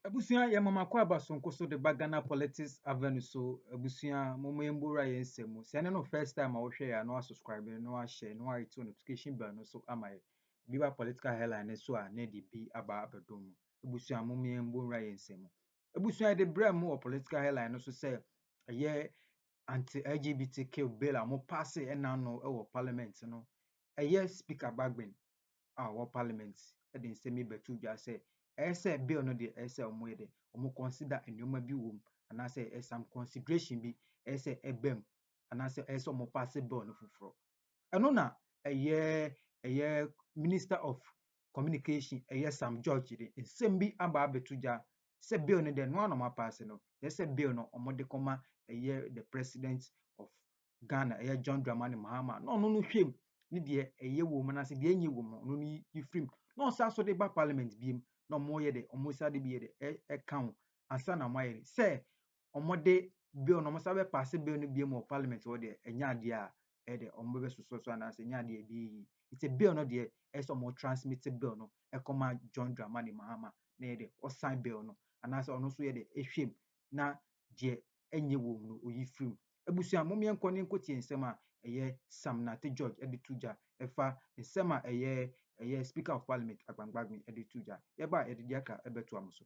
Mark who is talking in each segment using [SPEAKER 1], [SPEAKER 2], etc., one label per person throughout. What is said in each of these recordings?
[SPEAKER 1] Abusua yɛ mama kɔ aba sonko so de ba Ghana Politics Avenue so. Abusua mama yɛn bora yɛn nsɛm mu. Sɛ ɛne no first time a wohwɛ yɛ a na wasubscribe na wahyɛ na wayɛ to notification bell no so ama yɛ. Bi ba political headline no so a na ɛde bi aba abɛdom mu. Abusua mama yɛn bora yɛn nsɛm mu. Abusua yɛde brɛ mu wɔ political headline no so sɛ ɛyɛ anti-LGBTQ bill a wɔpaase ɛna no wɔ parliament no. Ɛyɛ speaker Bagbin a ɔwɔ parliament de nsɛm yi bɛto dwa sɛ, ɛyɛ sɛ bill no deɛ ɛyɛ sɛ wɔyɛ dɛ, wɔn consider nneɛma bi wɔ mu anaasɛ ɛyɛ some consideration bi ɛyɛ sɛ ɛba mu anaasɛ ɛyɛ sɛ wɔn paase bill no foforɔ. Ɛno na ɛyɛ ɛyɛ minister of communication ɛyɛ Sam George de nsɛm bi aba abɛto dwa sɛ bill no deɛ noa na wɔn apaase no, ɛyɛ sɛ bill no wɔde kɔma ɛyɛ the president of Ghana, ɛyɛ John Dramani Mahama, na ɔno no hwɛ mu ne deɛ ɛyɛ wɔ mu anaasɛ deɛ ɛnyɛ wɔ mu ɔno no yi firi mu na ɔsan so de ba parliament bi mu na wɔyɛ de wɔsa de bi yɛ de ɛka ho ansa na wɔayɛ de sɛ wɔde bill na wɔsa bɛpaase bill no bi mu wɔ parliament hɔ deɛ ɛnyɛ adeɛ a ɛyɛ de wɔbɛbɛsosɔ so anaasɛ ɛnyɛ adeɛ bi yi nti bill no deɛ ɛyɛ sɛ wɔn transmit bill no ɛkɔma John Dramani Mahama na yɛ de ɔsan bill no anaasɛ ɔno nso yɛ de ɛhwɛ mu na deɛ ɛnyɛ wɔn no ɔyi firi mu. Abusua, mom yɛnkɔ ne nkotie nsɛm a ɛyɛ Sam Nartey George ɛde to gya ɛfa nsɛm a ɛyɛ ɛyɛ Speaker of Parliament Agbang Bagbin ɛde to gya. Yɛba a yɛde deɛ aka ɛbɛtoa mo so.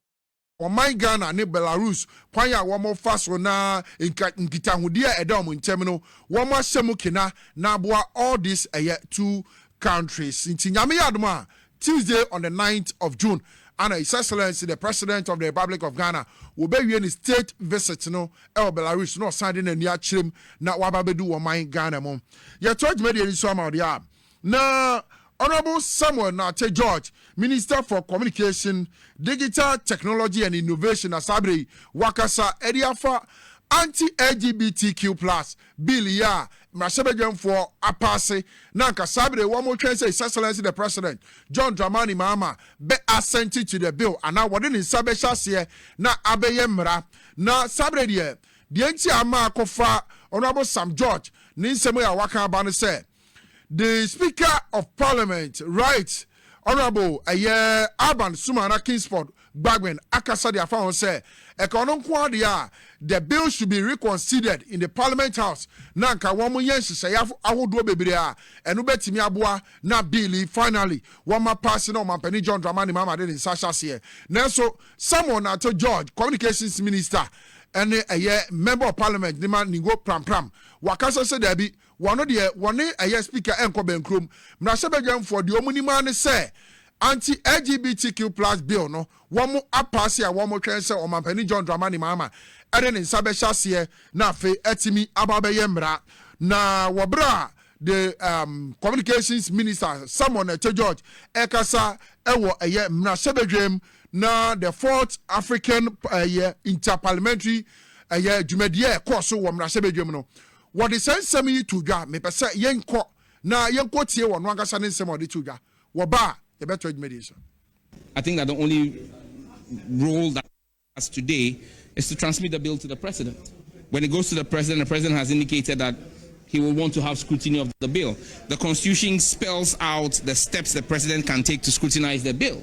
[SPEAKER 1] Ɔman Ghana
[SPEAKER 2] ne Belarus kwan a wɔfa so na nka nkitahodie a ɛda wɔn ntɛm no wɔn ahyɛ mu kena na aboa all this ɛyɛ two countries nti Nyame yɛ adom a Tuesday on the ninth of June ana His Excellency the President of the Republic of Ghana wɔbɛwie ne state visit no wɔ Belarus na ɔsan de n'ani akyerɛ mu na waba abɛdu wɔ man Ghana mu. Yɛtoa dwumadie no so ama wo deɛ a na Honourable Samuel Nartey George, Minister for Communication, Digital Technology and Innovation na saa berɛ yi wakasa de afa Anti-LGBTQ plus Bill yi a mmarahyɛbadwamfoɔ apaase na anka saa bere wɔn retwɛn sɛ His Excellency the President John Dramani Mahama bɛ assent to the bill anaa wɔde ne nsa bɛhyɛ aseɛ na abɛyɛ mmara na saa bere deɛ deɛ nti a ama akɔfa Honourable Sam George ne nsɛm yi a waka aba no sɛ The speaker of parliament writes Honourable ɛyɛ Alban Sumana Kingsford Gbagbin akasa de afa ho sɛ ɛka ɔno nko ara deɛ a the bill should be reconsidered in the parliament house na nka wɔn yɛ nhyehyɛeɛ ahodoɔ bebree a ɛno bɛtumi aboa na bill yi finally wɔma paase na ɔmampanin John Dramani Mahama de ne nsa ahyɛ aseɛ nanso Samuel Narto George communications minister ɛne ɛyɛ member of parliament ne ma Ningo Prampram wakasa sɛ daabi Wɔno deɛ wɔne ɛyɛ speaker ɛnkɔ bɛnkurom. Mmarahyɛbadwamfoɔ deɛ wɔn nim ara ne sɛ anti LGBTQ plus bill no wɔn apaase a wɔn twɛn sɛ Ɔmanpanin John Dramani Mahama ɛde ne nsa bɛhyɛ aseɛ na afei atumi aba abɛyɛ mmara. Na wɔ berɛ a the um, communications minister Samuel Nete George ɛkasa ɛwɔ ɛyɛ mmarahyɛbadwam na the fourth African ɛyɛ interparliamentary ɛyɛ dwumadie a ɛkɔɔ so wɔ mmarahyɛbadwam no Wɔde saa nsɛm yi too dwa, Mepɛ sɛ yɛnkɔ na yɛnkɔtie ɔno ankasa ne nsɛm a ɔde too dwa. Wɔba a, yɛbɛtoa dwumadi no so. I think that
[SPEAKER 3] the only role that has today is to transmit the bill to the president. When it goes to the president, the president has indicated that he will want to have scrutiny of the bill. The constitution spells out the steps the president can take to scrutinize the bill.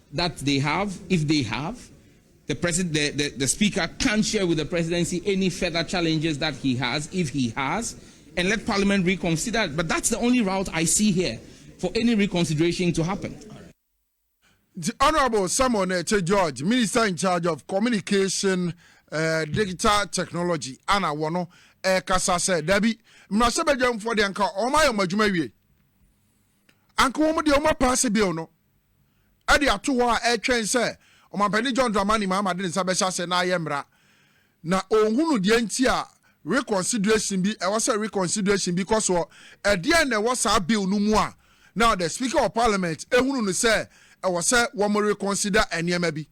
[SPEAKER 3] that they have if they have the presid the the the speaker can't share with the presidency any further challenges that he has if he has and let parliament reconsider it but that's the only route I see here for any reconsideration to happen.
[SPEAKER 2] Nti Honourable Samuel Nɛkyɛ George, Minister in charge of Communication, eh, Digital Technology ana wɔno ɛrekasa sɛ dabi, mmarahyɛbadwamfoɔ deɛ nka wɔayɛ wɔn adwuma awie. Anka wɔn deɛ wɔapaase bill no de ato hɔ a ɛretwɛn sɛ Ɔmampanin John Dramani Mahama de ne nsa bɛhyɛ aseɛ na ayɛ mmara. Na ɔnhunu deɛ nti a reconsideration bi, ɛwɔ sɛ reconsideration bi kɔ soɔ. Ɛdeɛn na ɛwɔ saa bill no mu a now the Speaker of Parliament hunu no sɛ ɛwɔ sɛ wɔreconsider nneɛma bi?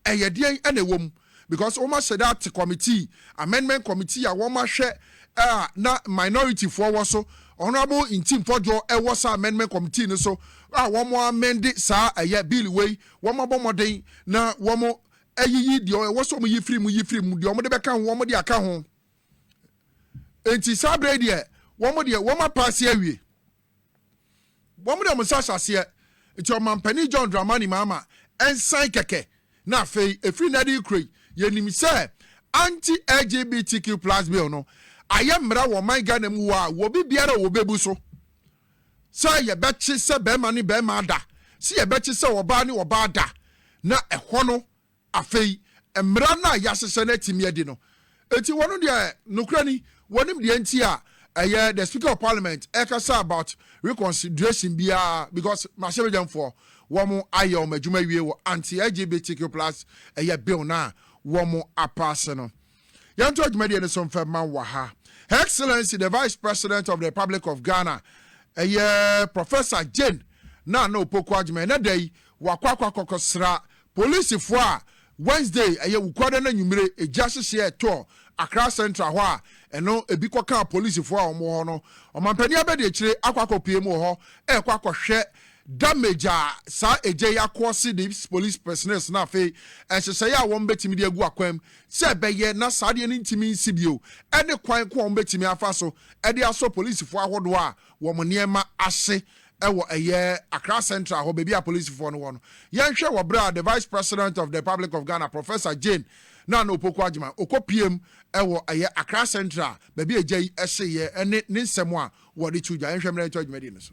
[SPEAKER 2] ɛyɛ deɛn na ɛwɔ mu because wɔn ahyɛ da ate committee amendment committee a wɔn ahwɛ a na minority foɔ wɔ so honourable nti mpɔdwoɔ ɛwɔ saa amendment committee no so a wɔn amende saa ɛyɛ bill wei wɔn abɔ mmɔden na wɔn ayiyi deɛ ɛwɔ so wɔn yi firi mu yi firi mu deɛ wɔn de bɛka ho wɔn de aka ho nti saa abere deɛ wɔn deɛ wɔn apaase awie. Wɔde wɔn nsa hyɛ aseɛ. Enti Ɔmampanin John Dramani Mahama nsan kɛkɛ na afei ɛfiri nnɛ de rekura yi, yɛnim sɛ Anti-LGBTQ plus Bill no ayɛ mmara wɔ ɔman Ghana mu wɔ a obi biara a wɔbɛbu so sɛ yɛbɛkye sɛ barima ne barima da, sɛ yɛbɛkye sɛ ɔbaa ne ɔbaa da na ɛhɔ no Afei, mmara no a yɛahyehyɛ no atumi adi no nti, wɔn deɛ, nokorɛ ni, wɔnim deɛ nti a ɛyɛ the speaker of parliament ɛrekasa about reconsideration biara because mmarahyɛbadwamfoɔ wɔn ayɛ wɔn adwuma awie wɔ anti-LGBTQ plus ɛyɛ bill no a wɔn apaase no. Yɛntoa dwumadie no so mfa ma wɔ ha. Her Excellency the Vice President of the Republic of Ghana, ɛyɛ Professor Jane Nana Opoku Agyeman, ɛnɛ da yi wakɔ akɔ akɔkɔsra polisifoɔ a Wednesday, ɛyɛ Wukuada no anwummere, egya hyehyeɛ ɛtɔɔ Accra Central hɔ a ɛno ebi kɔkaa polisifoɔ a wɔn wɔ hɔ no. Ɔmampanin Abadiakyire akɔ akɔpue mu wɔ hɔ ɛrekɔ akɔhwɛ damage a saa egya yi akɔɔse de police personnels no afei nhyehyɛeɛ a wɔbɛtumi de agu akwan mu sɛ ɛbɛyɛ na saa adeɛ no ntumi nsi bio ne kwan ko a wɔbɛtumi afa so de asɔ polisifoɔ ahodoɔ a wɔn nneɛma ahye wɔ ɛyɛ Accra Central hɔ, baabi a polisifoɔ no wɔ no. Yɛnhwɛ wɔ berɛ a the Vice President of the Republic of Ghana, Professor Jane Nana Opoku Agyemang, ɔkɔpiem wɔ ɛyɛ Accra Central, baabi a gya yi hyeeɛ ne ne nsɛm a wɔde to dwa. Yɛnhwɛ mmerɛ yɛntoa dwumadie no so.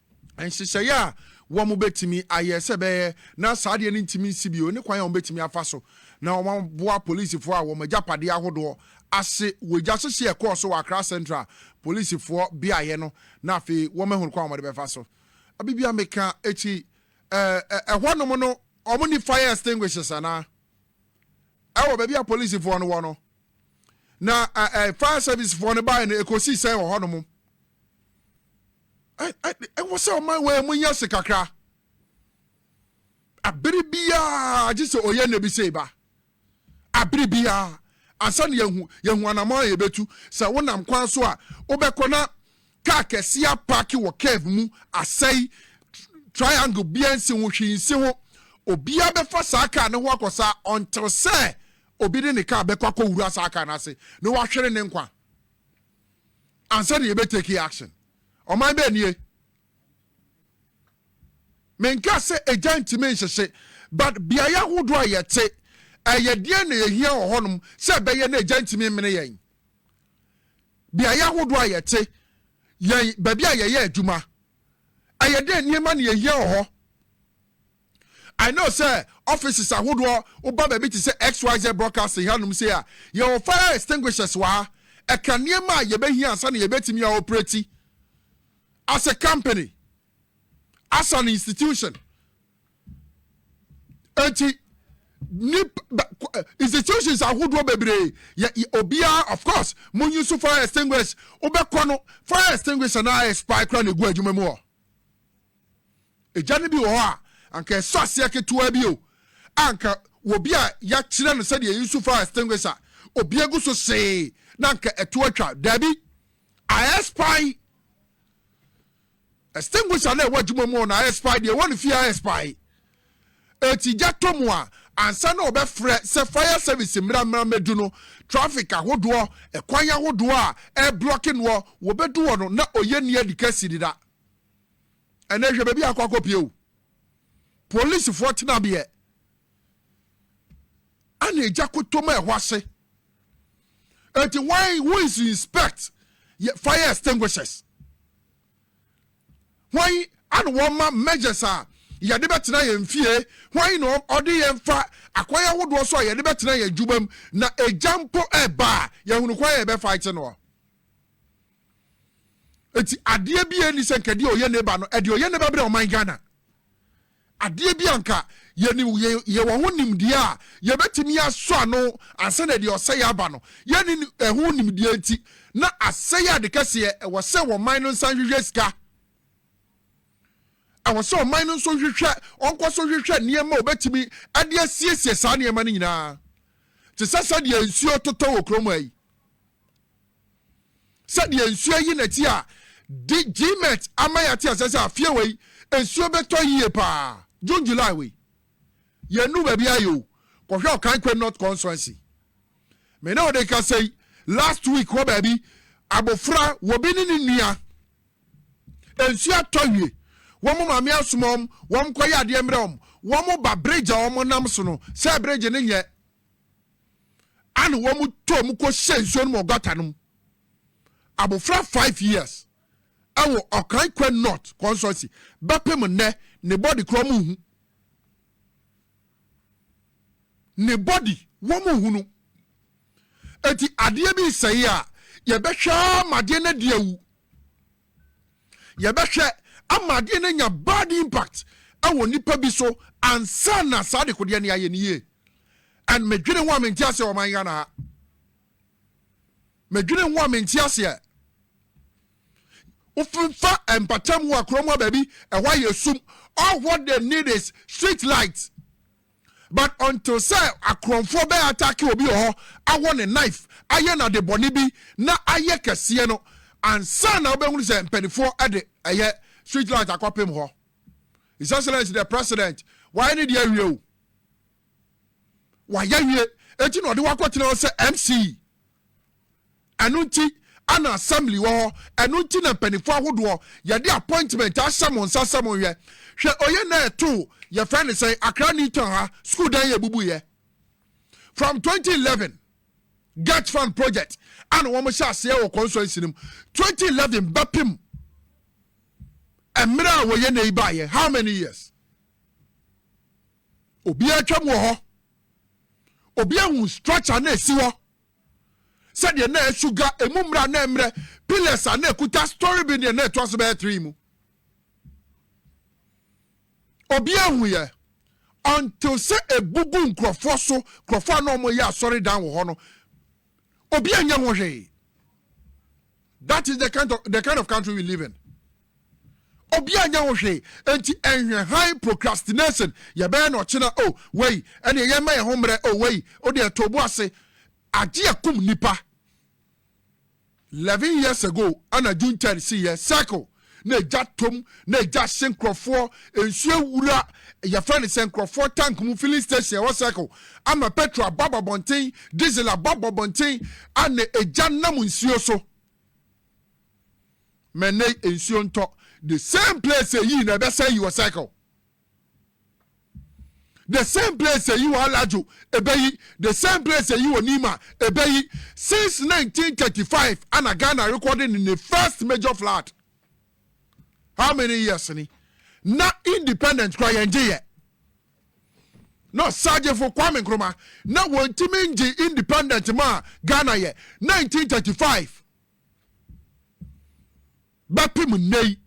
[SPEAKER 2] nhyehyɛeɛ a wɔbɛtumi ayɛ sɛ bɛyɛ na saa adeɛ no ntumi nsi bio ne kwan a wɔbɛtumi afa so na wɔaboa polisifoɔ a wɔn agyapadeɛ ahodoɔ ahye wɔ egya hyehye a ɛkɔɔ so wɔ Accra Central polisifoɔ beaeɛ no na afei wɔahunu kwan a wɔde bɛfa so abibia meka akyi ɛhɔnom no wɔn ni fire extinguishers anaa ɛwɔ baabi a polisifoɔ no wɔ no na fire servicefoɔ no baeɛ no ɛkɔsii sɛn wɔ hɔnom ɛwɔ sɛ ɔma wɔn mu nya se kakra abere biara gye sɛ ɔyɛ nna bi sɛ ba abere biara ansa na yɛhu yɛhu anamɔ a yɛbɛtu sɛ wonam kwan so a wobɛkɔ na kaa kɛseɛ apaake wɔ curve mu asɛe triangle biara nsi ho hwee nsi ho obiara bɛfa saa kaa ne ho akɔ saa ɔntel sɛ obi de ne kaa bɛkɔ akɔwura saa kaa no ase na wahwere ne nkwa ansa na yɛbɛ take action. Ɔman bɛn nie? Menkaa sɛ egya ntumi nhyehye but beaeɛ ahodoɔ a yɛte ɛyɛ deɛn na yɛhia wɔ hɔnom sɛ ɛbɛyɛ na egya ntumi mmene yɛn. Beaeɛ ahodoɔ a yɛte yɛn baabi a yɛyɛ adwuma ɛyɛ dɛn nneɛma na yɛhia wɔ hɔ. I know sɛ offices ahodoɔ woba baabi te sɛ XYZ broadcasting hanom sei a yɛwɔ fire extinguishers wɔ ha ɛka nneɛma a yɛbɛhia ansa na yɛbɛtumi a operate as a company as an institution eti nip institutions ahodoɔ bebree yɛ obiara of course mo use fire extinguishers wobɛkɔ no fire extinguisher na ayɛ spy kora na egu adwuma mu hɔ. Agya no bi wɔ hɔ a, anka ɛsɔ aseɛ ketewaa bi o, a anka wɔbi a yɛakyerɛ no sɛdeɛ yɛsu fire extinguisher, obi agu so see na anka ɛto atwa. Daabi, ayɛ spy. Extinguisher na ɛwɔ adwuma mu na ayɛ spy deɛ ɛwɔ ne fie ayɛ spy. Eti gya tɔ mu a, ansa na ɔbɛfrɛ sɛ fire service mmra mmra mmɛdu no, traffic ahodoɔ, ɛkwan ahodoɔ a ɛreblɔke noɔ, wɔbɛdu hɔ no na ɔyɛ ni adi kasi deda. Ɛnɛ hwɛ baabi a akɔ akɔpie o. Polisifoɔ tenabeɛ ana egya kotom a ɛhɔ ase. Eti why who is inspect fire extinguishers? Why ana wɔma measures a yɛde bɛtena yɛn fie? Why na ɔde yɛn fa akwan ahodoɔ so a yɛde bɛtena yɛn adwuma mu na egya mpo ɛba a yɛhunu kwan a yɛbɛfa akyi no? Eti adeɛ bi a ɛnni sɛ nka deɛ ɔyɛ neighbor no, ɛdeɛ ɔyɛ neighbor brɛ ɔman Ghana. Adeɛ bi a nka yɛnim, yɛ, yɛwɔ ho nimdeɛ a yɛbɛtumi asɔ ano ansa na deɛ ɔsɛeɛ aba no. Yɛnni ni, ɛho nimdeɛ nti na asɛeɛ ade kɛseɛ. Ɛwɔ sɛ ɔman no nsa nhwehwɛ sika. Ɛwɔ sɛ ɔman no nso hwehwɛ, ɔnkɔ so hwehwɛ nneɛma a ɔbɛtumi de asiesie saa nneɛma no nyinaa. Te sɛ sɛdeɛ nsuo totɔ wɔ kurom ha yi. sɛdeɛ nsuo ayi nɛti a di gmet ama yɛate asɛ sɛ afeɛ wei nsuo bɛtɔ yie paa june july wei yɛnu baabi ayɛ o kɔhwɛ ɔkan kwam north consuency me ne ɔde kasa yi last week hɔ baabi abofra wɔbi ne ne nua nsuo atɔ wie wɔn maame asoma wɔn wɔn kɔyɛ adeɛ mmerɛ wɔn wɔn ba bridge a wɔn nam so no sɛ bridge ne nyɛ Ana wɔn tɔ wɔn kɔ hyɛ nsuo no mu ɔgata no mu. Abofra five years ɛwɔ Ɔkran Kwen North Constituency bɛpem nnɛ ne body kora wɔn nhu. Ne body wɔn nhu no. Eti adeɛ bi sɛe a yɛbɛhwɛ ara ma adeɛ no adi awu. Yɛbɛhwɛ ama adeɛ no anya bad impact wɔ nnipa bi so ansa na saa dekodeɛ no yɛayɛ no yie. And medwene ho a mente aseɛ wɔ man Ghana ha. Medwene ho a mente aseɛ. Wofa mpatam hɔ a kurom hɔ baabi ɛhɔ ayɛ sum. All what they need is street light. But until sɛ akorɔnfoɔ bɛ attack obi wɔ hɔ awɔ no knife ayɛ no adebɔne bi na ayɛ kɛseɛ no ansa na wobɛhunu sɛ mpanifoɔ de ɛyɛ street light akɔpem hɔ His Excellency the President wayɛ ne deɛ awie o wayɛ awie enti na ɔde wakɔtena hɔ sɛ MC Ɛno nti ana assembly wɔ hɔ. Ɛno nti na mpaninfoɔ ahodoɔ yɛde appointment ahyɛ mo nsa sɛ monhwɛ. Hwɛ oye na ɛtoo yɛfrɛ no sɛn Accra New Town ha school dan yɛ ebubuiɛ. From 2011 Get Fund project ana wɔn hyɛ aseɛ wɔ constituency no mu. 2011 bɛpem mmerɛ a wɔyɛ na yi baayɛ how many years? Obiara atwam wɔ hɔ. Obiara hu structure na esi hɔ. sɛdeɛ na suga emu mmra na mmerɛ pillars a na ɛkuta story bi deɛ na ɛtoa so bɛyɛ three mu obi ahuiɛ until sɛ ebubu nkurɔfoɔ so nkurɔfoɔ a na wɔyɛ asɔredan wɔ hɔ no obi anyɛ ho hwee That is the kind of, the kind of country we live in. Obi anya ho hwee, enti ɛnhwɛ han procrastination, yɛbɛyɛ na ɔkyena, o, oh, wei, ɛne yɛn mma yɛn ho mmerɛ, o, oh, wei, o deɛ ɛtɔ obu ase, agye akum nipa. Eleven years ago, ana June third si yɛ circle, na egya tɔm na egya hye nkorɔfoɔ nsuo awura yɛfrɛ no sɛ nkorɔfoɔ tank mu filling station ɛwɔ circle ama petrol abɔ abɔbɔnten diesel abɔ abɔbɔnten a na egya nam nsuo so mɛnɛ nsuo ntɔ the same place yii na ɛbɛsɛe yi wɔ circle. the same place eyi wɔ alajo ebeyi the same place eyi wɔ nima ebeyi since 1935 ana ghana recording ne ne first major flood how many years ni na independent kora yɛn gye yɛ na ɔsagyefo kwame nkrumah na wɔntumi ngye independent ma ghana yɛ 1935 Bɛpem nnɛyi,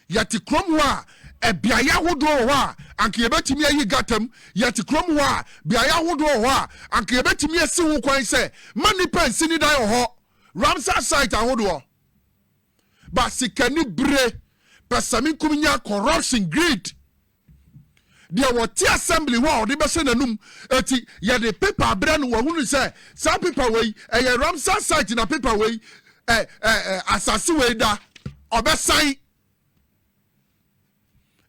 [SPEAKER 2] yɛte kurom hɔ a beaeɛ ahodoɔ wɔ hɔ a anka yɛbɛtumi ayi gata mu, yɛte kurom hɔ a beaeɛ ahodoɔ wɔ hɔ a anka yɛbɛtumi asi ho kwan sɛ mma nnipa nsi ne dan wɔ hɔ, Ramsar site ahodoɔ. But sikanibere, pɛsɛmenkominya, corruption, greed. Deɛ wɔte assembly hɔ a ɔde bɛhyɛ n'anum. Eti yɛde paper abrɛ no, wahunu sɛ saa paper wei ɛyɛ Ramsar site na paper wei ɛ ɛ ɛ asase wei da. Ɔbɛsan.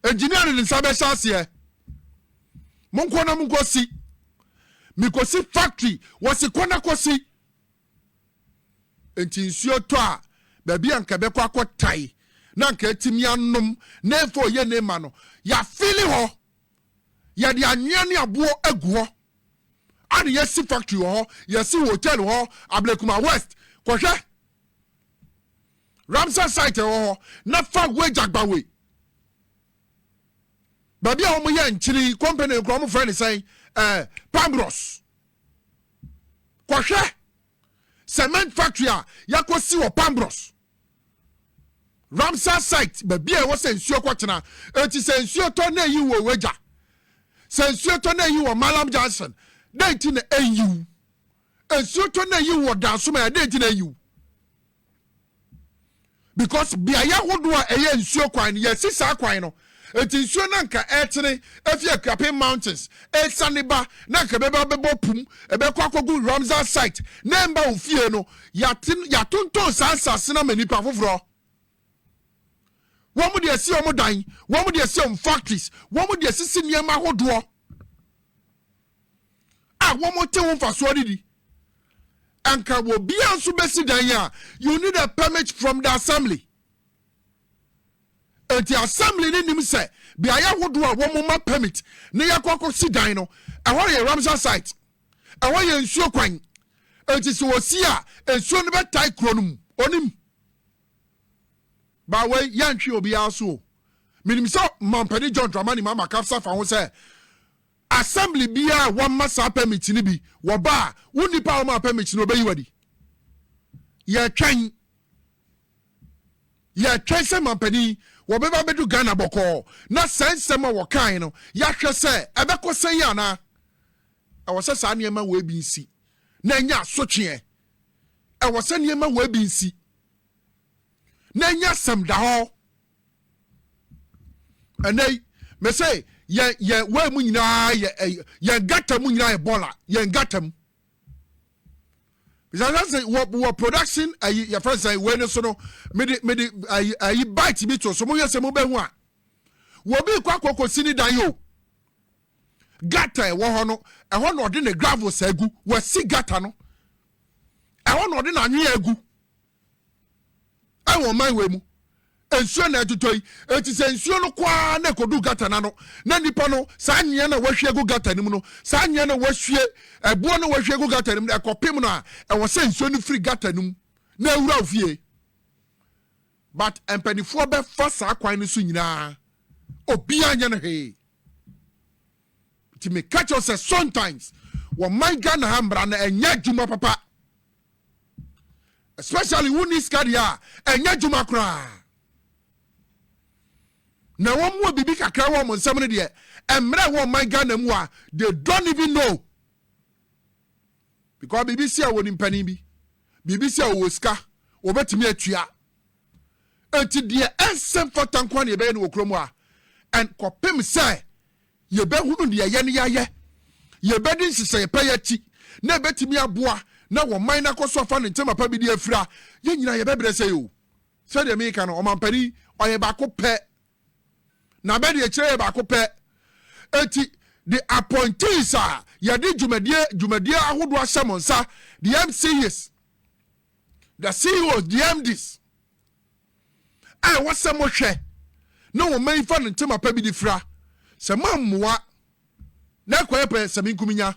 [SPEAKER 2] Engineer no ne nsa bɛhyɛ aseɛ. Monkɔ na monkɔsi. Mekɔsi factory, wɔsi kɔ na kɔsi. Enti nsuo tɔ a, baabi a anka ɛbɛkɔ akɔtae na anka atumi anom na ɛmfa ɔyɛ ne mma no, yɛafili hɔ. Yɛde anwea ne aboɔ agu hɔ a na yɛasi factory wɔ hɔ, yɛasi hotel wɔ hɔ, Ablekuma West, kɔhwɛ Ramsar site ɛwɔ hɔ na fa Wage Agbawe. Baabi a wɔyɛ nkyene yi, company no koraa wɔfrɛ no sɛn? Eh, Pambros. Kɔhwɛ cement factory a yɛakɔsi wɔ Pambros. Ramsar site, baabi a ɛwɔ sɛ nsuo kɔtena. Enti sɛ nsuo tɔ na ɛyi wɔ Weja. Sɛ nsuo tɔ na ɛyi wɔ Mallam Junction. Dɛn nti na ɛnyiw? Nsuo tɔ na ɛyiw wɔ Dansomaa, dɛn nti na ɛnyiw? because beaeɛ ahodoɔ a ɛyɛ nsuo kwan no yɛasi saa kwan no nti nsuo no anka ɛretene afi akuapem mountains ɛresane ba na anka ɛbɛba abɛbɔ pum ɛbɛkɔ akɔgu ramsar site na ɛmba wo fie no yɛate yɛatontɔn saa asase no ama nnipa foforɔ wɔn de asi wɔn dan wɔn de asi wɔn factories wɔn de asisi nneɛma ahodoɔ a wɔte ho mfasoɔ no di. Anka obiara nso bɛsi dan a, you need a permit from the assembly. Nti assembly no nim sɛ beaeɛ ahodoɔ a wɔma permit na yɛakɔ akɔsi dan no, ɛhɔ yɛ Ramsar site, ɛhɔ yɛ nsuo kwan. Nti sɛ wɔsi a, nsuo no bɛtae kuro no mu, ɔnim. Ba wei yɛntwe obiara so o. Menim sɛ Mampani John Dramani Mahama kasa fa ho sɛ Assembly biara a wɔmma saa permit no bi wɔ ba a, wo nnipa a wɔmaa permit no wɔbɛyi wo adi. Yɛretwɛn. Yɛretwɛn sɛ mampanin yi wɔbɛba abɛdu Ghana bɔkɔɔ na saa nsɛm a wɔkae no yɛahwɛ sɛ ɛbɛkɔ sɛn yɛ anaa. Ɛwɔ sɛ saa nneɛma wei bi nsi na ɛnyɛ asotweɛ. Ɛwɔ sɛ nneɛma wei bi nsi na ɛnyɛ asɛm da hɔ. ɛnɛ yi mese yɛn yɛn wei mu nyinaa yɛ ɛyɛ yɛn gata mu nyinaa yɛ bɔɔla yɛn gata mu bisasa se wɔ wɔ production ayi yɛfrɛ sɛ wei ne so no mede mede ayi ayi bite bi to so mo yɛ sɛ mo bɛ ho a wɔbi kɔ akɔkɔ si ne dan yi o gata ɛwɔ hɔ no ɛhɔ na ɔde ne gravels agu wɔsi gata no ɛhɔ na ɔde n'anwea agu. ɛwɔ ɔman wei mu nsuo na ɛtotɔ yi eti sɛ nsuo no kɔ ara na ekodu gata no ano na nipa no saa anwea na wahwie agu gata no mu no saa anwea na wahwie ɛboɔ na wahwie agu gata no mu no ɛkɔpem no a ɛwɔ sɛ nsuo no firi gata no mu na awura wo fie but mpanimfoɔ bɛfa saa kwan no so nyinaa obiara nyɛ no hwee nti meka kyerɛ sɛ sometimes wɔman ghana ha mmara no ɛnyɛ adwuma papa especially wonni sika deɛ a ɛnyɛ adwuma koraa na wɔn wɔ biribi kakra wɔ wɔn nsɛm no deɛ mmerɛ wɔ ɔman ghana mu a they don't even know because biribi si a wɔ nimpanin bi biribi si a wɔwɔ sika wɔbɛtumi atua nti deɛ ɛnsɛ mfata nko a na yɛbɛyɛ no wɔ kurom a ɛnkɔpem sɛ Yɛbɛhunu deɛ yɛn yɛayɛ, yɛbɛdi nhyehyɛeɛ pa yɛ akyi na ɛbɛtumi aboa na ɔman no akɔ so afa ne nkyɛma pa bi de afira. Yɛn nyinaa yɛbɛbrɛ sɛe o. Sɛdeɛ meka no, ɔmampanin ɔyɛ baako pɛ. Na bɛ deɛ kyerɛ yɛ baako pɛ. Eti the appointees a yɛde dwumadie dwumadie ahodoɔ ahyɛ mo nsa, the MCs, the CEOs, the MDs, a ɛwɔ sɛ mohwɛ na wɔn mma yi fa no ntɛm apa bi de fira. Sɛ moammoa na ɛkɔyɛ pɛ sɛ menkuminya,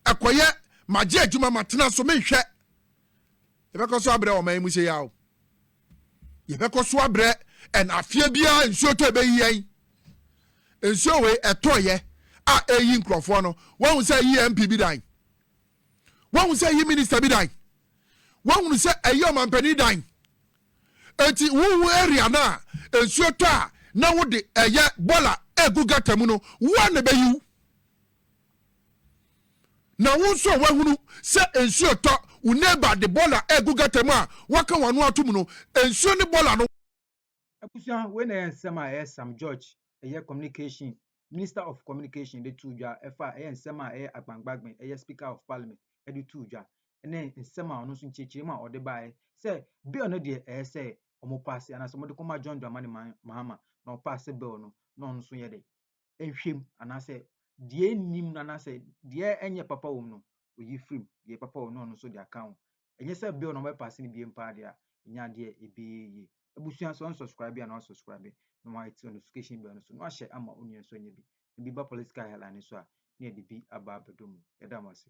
[SPEAKER 2] ɛkɔyɛ magye adwuma matena so menhwɛ. Yɛbɛkɔ so abrɛ ɔman yi mu sei ara o. Yɛbɛkɔ so abrɛ ɛn afeɛ biara nsuo tɔ ɛbɛyi yɛn. Nsuo wei ɛtɔeɛ a ɛyi nkurɔfoɔ no, woahu sɛ ɛyi MP bi dan? woahu sɛ ɛyɛ minista bi dan woahunu sɛ ɛyɛ ɔmampanin dan eti wohu area no a nsuo tɔ a na wode ɛyɛ bɔla egu gata mu no woa na ɛbɛyiw na wo nso a woahunu sɛ nsuo tɔ wo neighbor de bɔla egu gata mu a waka wɔn ano ato mu no nsuo ne bɔla no Abusua,
[SPEAKER 1] wei na ɛyɛ nsɛm a ɛyɛ Sam George, ɛyɛ communication, Minister of Communication de too dwa, ɛfa ɛyɛ nsɛm a ɛyɛ Agbangbagben, ɛyɛ Speaker of Parliament de too dwa, ɛne nsɛm a ɔno nso nkyerɛkyerɛmu a ɔde baeɛ sɛ bill no deɛ ɛyɛ sɛ wɔn paase anaasɛ wɔde kɔma John Dramani Mahama na ɔpaase bill no na ɔno nso yɛ dɛ. nhwɛ mu anaasɛ deɛ ɛnni mu no anaasɛ deɛ ɛnyɛ papa wɔ mu no, ɔyi firi mu. Deɛ papa wɔ mu no, ɔno nso de aka ho. Ɛnyɛ sɛ bere a na wɔbɛpaase no biem paa deɛ a, ɛnyɛ adeɛ a ɛbɛyɛ yie. Abusua nso unsubscribe a na wasubscribe na wahit notification bell no so na wahyɛ ama wo nua nso anya bi. Ebi ba political headline no so a, na yɛde bi aba abɛdɔ mu. Yɛda mo ase.